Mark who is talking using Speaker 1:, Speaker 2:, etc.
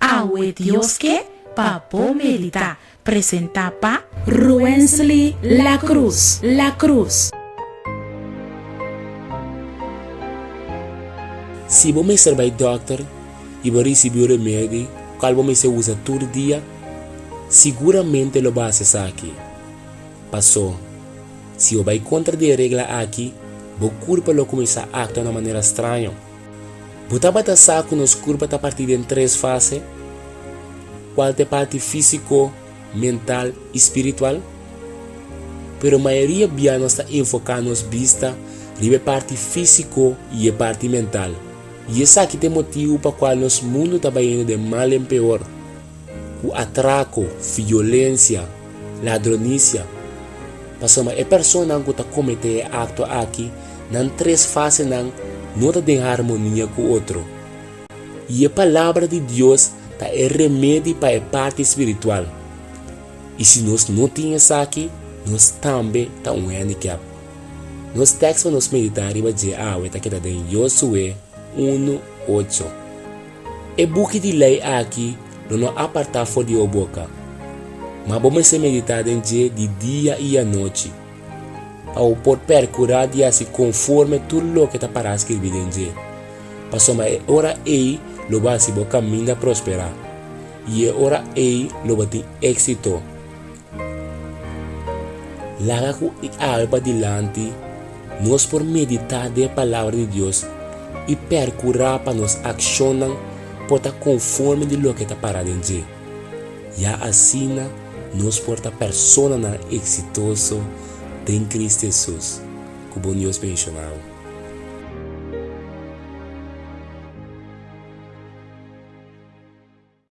Speaker 1: Awe Dios ke pa bo meditá, presentá pa. Ruensly Lacruz Lacruz.
Speaker 2: Si bo mester bai dòkter i bo risibí un remedi ku kal bo mester usa tur dia, siguramente lo basa esaki. Pasó, si bo bai kontra di e regla aki, bo kurpa lo kuminsá aktua na manera straño. Bo tabata sa ku nos kurpa ta partí den tres fase, kual ta e parti físiko, mental i spiritual? Pero mayoria bia nos ta enfoká nos bista riba e parti físiko i e parti mental, i esaki ta e motibu pa kual nos mundu ta bayendo den mal den peor. ku atrako, violensia, ladronisia, pasobra e personanan ku ta kometé e akto aki nan tres fasenan no ta den harmonia ku otro. I e Palabra di Dios ta e remedi pa e parti spiritual, i si nos no tin esaki nos tambe ta un handicap. Nos tèks pa nos meditá riba dje awe ta keda den Yosué unu ocho. E buki di lei aki lo no apartá for di bo boka, ma bo mester meditá den dje di dia i anochi, pa bo por perkurá di hasi konforme tur loke ta pará skirbí den dje. Pasobra e ora ei lo bo hasi bo kaminda prosperá, i e ora ei lo bo tin éksito. Laga ku e awe padilanti, nos por meditá den e Palabra di Dios i perkurá pa nos akshonnan por ta konforme di loke ta pará den dje. Ya asina nos por ta personanan eksitoso den Kristu Hesus, ku bon Dios menshoná bo.